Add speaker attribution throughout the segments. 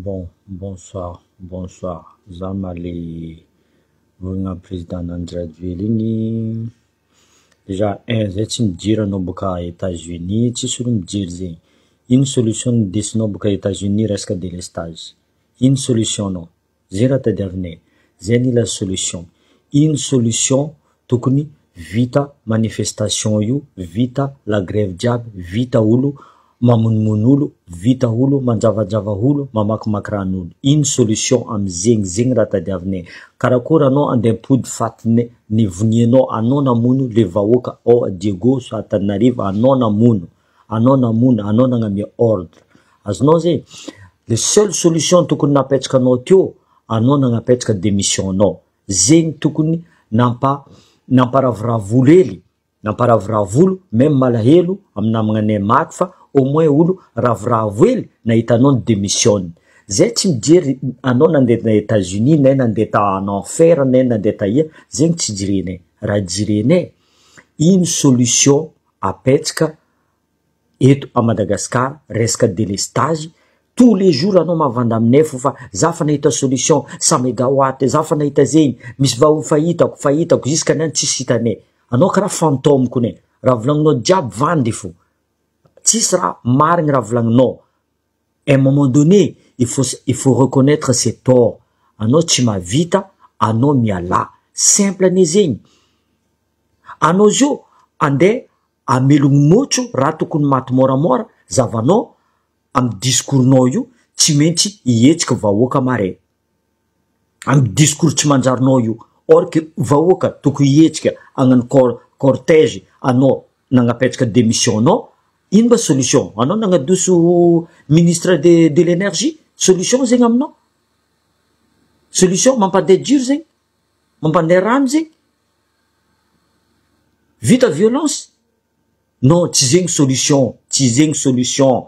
Speaker 1: Bon bonsoir bonsoir za ma le vorogna président nandry rajoel igny dejà un zay tsy mijery anao boka Etats unis tsisy olo mijery zegny ino solution ndesinao boka Etats unis resaka delestage ino solution nao. Zay raha tadiavinay e. Zay anila solution. Iny solution tokony vita manifestation io, vita la grève jiaby, vita olo mamonomono olo, vita olo manjavajava olo, mamakimaky ran'olo. Iny solution amzegny, zegny raha tadiavinay. Karakory anao andeha ampody faty ny ny vonianao, anao namono le vahoaka ao Diego, Antananarivo, anao namono. anao namono anao nagnamia ordre azonao zay le seul solution tokony napetraka anao teo anao nagnapetraka demission anao zegny tokony nampa namparavoravo olo hely namparavoravo olo meme malahelo am namagnanay maty fa au moins olo ravoravo hely nahita anao ny demission zay tsy mijery anao nandeha ta etats unis nay nandeha ta en enfer nay nandeha taia zegny tsy jerenay raha jerenay ino solution apetsaka eto à Madagascar resaka délestage tous les jours anao mavanda aminay fo fa za fa nahita solution cent megawatt za fa nahita zegny misy vao fa hitako fa hitako jusqu'à neny tsisy hitanay anao kara fantôme kone raha volagninao jiaby vandy fo tsisy raha marigny raha volagninao un moment donné il faut il faut reconnaitre ses tort anao tsy mahavita anao mialà simple anie zegny anao zio ande amelogno motro raha tokony maty môramôra zavanao amy discours nao io tsy maintsy hihetsiky vahoaka mare. amin'ny discours tsy manjarinao io or que vahoaka tokony hihetsika hagnano cor- cortège anao nagnapetraka démission anao ino mba solution anao nagnadoso ministre de de l'énergie solution zegny aminao solution mampandeha jiro zegny mampandeha rano zegny vita violence non tsy zegny solution tsy zegny solution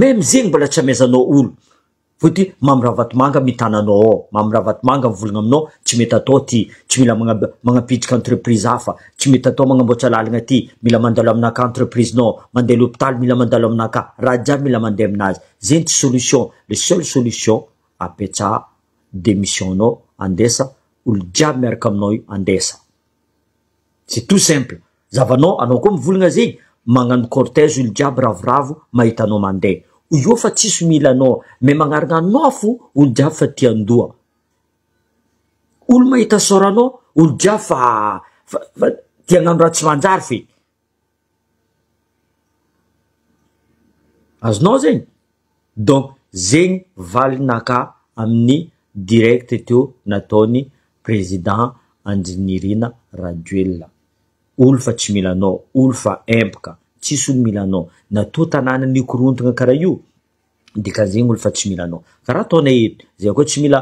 Speaker 1: Même zegny mbola tsy amezanao olo vao ty mamy ravatomanga mitana anao ao mamy ravatomanga mivolagna aminao tsy mety atao ty tsy mila magna- magnapitrika entreprise hafa tsy mety atao magnamboatra lalagna aty mila mandalo aminah ka entreprise nao mandeha lopitaly mila mandalo aminah ka raha jiaby mila mandeha aminazy zegny tsy solution le seul solution apetraha demission nao andesa olo jiaby miaraka aminao io andesa. c'est tout simple, zavanao anao koa mivolagna zegny magnano cortège olo jiaby ravoravo mahita anao mande io fa tsisy mila anao mais magnarigna nofo olo jiaby fa tia andoha olo mahita sôranao olo jiaby fa fa fa tia agnano raha tsy manjary feky. Azonao zegny? Donc zegny valinakà amin'ny direct teo nataon'ny président Andry Nirina Rajoelina, olo fa tsy mila anao, olo fa empaka, tsisy olo mila anao, na toa tanàna nikorontagna karaha io, Dikan'izegny olo fa tsy mila anao. Karaha ataonay eto, zay akao tsy mila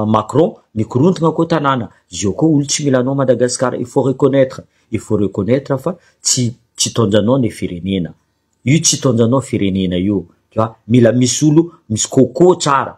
Speaker 1: Macron, mikorontagna akao tanàna, zio koa olo tsy mila anao Madagascar, il faut reconnaitre, il faut reconnaitre fa tsy tsy itaonjanao ny firenena, io tsy itaonjanao firenena io, tu vois, mila misy olo misy coco tsara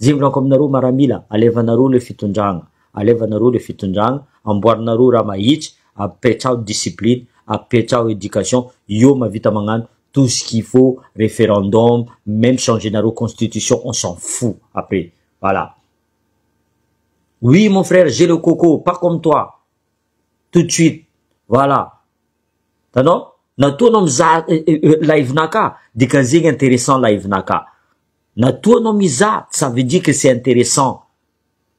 Speaker 1: Jimbinako aminareo maramila, alevanareo le fitondragna, alevanareo le fitondragna, amboarinareo raha mahitsy, apetraho discipline, apetraho education, io mahavita magnano tout ce qu'il faut, referendum, meme changer-nareo constitution on s'en fou après, voilà. Oui mon frère j'ai le coco, pas comme toi, tout de suite, voilà, tanao? Na toa anao mizaha live-nakà, dikany zegny intéressant live-nakà. Na toa anao mizaha, ça veut dire que c'est intéressant.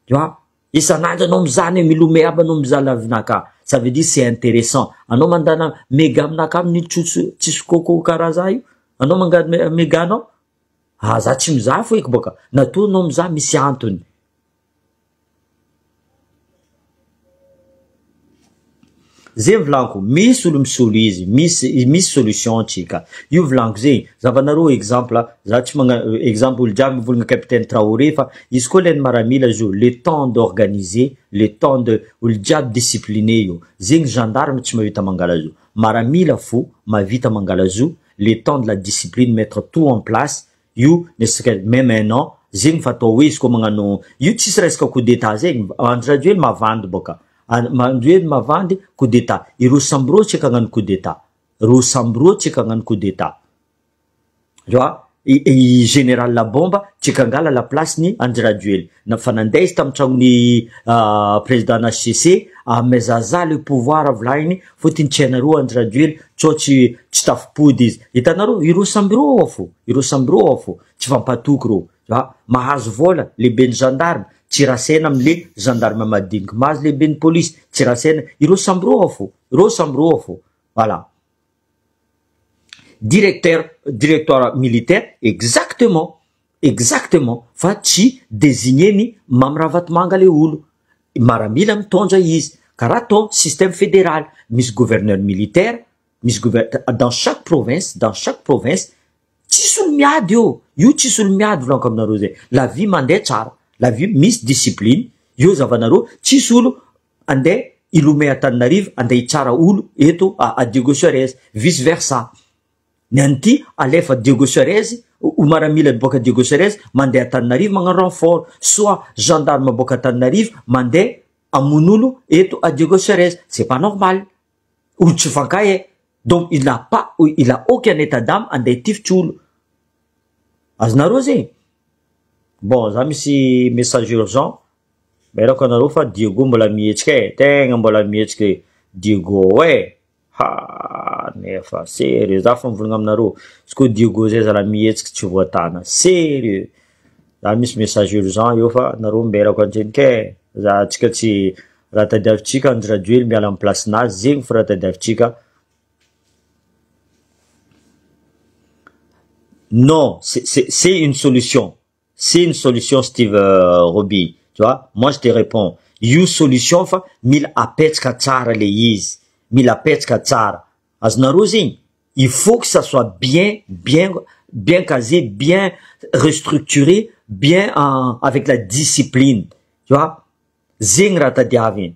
Speaker 1: Tu vois? Isan'andro anao mizaha ny hoe milomea aby anao mizaha live naka, ça veut dire c'est intéressant. Anao mandana mega aminaka aby ny trotsy tsisy coco karaha za io, anao manga mega anao? Ah za tsy mizaha foiko bôka, na toa anao mizaha misy antony. Zay volako misy olo misolo izy misy misy solution tsika io volako zay zavanareo exemple za tsy magna exemple olo jiaby mivolagna capitaine Traoré fa izy koa leny maramila izy io le temps d'organiser le temps de olo jiaby discipline io zegny gendarme tsy mahavita mangalazo maramila fo mahavita mangalazo le temps de la discipline mettre tout en place Io ne serait même un an zegny fa atao hoe izy koa magnano io tsisy resaka coup d'etat zegny, Andry Rajoely mavandy bôka, Rajoely mavandy coup d'etat, i Rossy sambo rô tsy eky hagnano coup d'etat, Rossy sambo rô tsy eky hagnano coup d'etat, fa i général bomba tsy eky hangala la place ny Andry Rajoely, na fa nandeha izy tamin'ny tragnon'ny président HCC, amezazah le pouvoir volahiny Fotiny tsy hainareo Andry Rajoely co tsy tsy tafopody izy. Hitanareo ireo samby ireo ao fo, ireo samby ireo ao fo, tsy fampatoky ireo. A, mahazo vola, lehiben'ny gendarme, tsy rasaina amle gendarme madiniky, mahazo lehiben'ny police, tsy rasaina, ireo samby ireo ao fo, ireo samby ireo ao fo. Voilà. Directeur, directoire militaire, exactement. Exactement fa tsy designer ny Mamy Ravatomanga le olo. Maramila mitondra izy. Karaha atao système fédéral. Misy gouverneur militaire, misy gouverneur dans chaque province, dans chaque province. Tsisy olo miady eo. Io tsisy olo miady volaniko aminareo zay. La vie mandeha tsara. La vie misy discipline. Eo zavanareo tsisy olo andeha hilomea Antananarivo andeha hitsara olo eto à Diego Suarez. Vice versa. Ny an'ity alefa Diego Suarez, o maramila miboaka Diego Suarez mandeha Antananarivo magnano renfort, soit gendarme miboaka Antananarivo mandeha hamono olo eto à Diego Suarez, c'est pas normal, olo tsy mifankahy eh, donc il n'a pas ou il a aucun état d'ame handeha hitifitry olo, azonareo zegny? Bon za misy message urgent, mailako anareo fa Diego mbola mihetsika eh, tegna mbola mihetsika eh Diego eh. Ha! nefa serieux za fa mivolagna aminareo izy ko dieugo zay zala mihetsiky tsy voatana serieux za misy message urgent eo fa nareo mberako antsendriky e za tsika tsy raha tadiavitsika andry rajoely miala am place nazy zegny fo raha tadiavitsika non c'est c'est une solution C'est ny solution Steve Roby. Tu vois? Moi je te réponds. Io solution fa mila apetraka tsara le izy. Mila apetraka tsara. Azonareo izy igny? Il faut que ça soit bien, bien, bien casé, bien restructuré, bien avec la discipline. Tu vois? Zegny raha tadiaviny.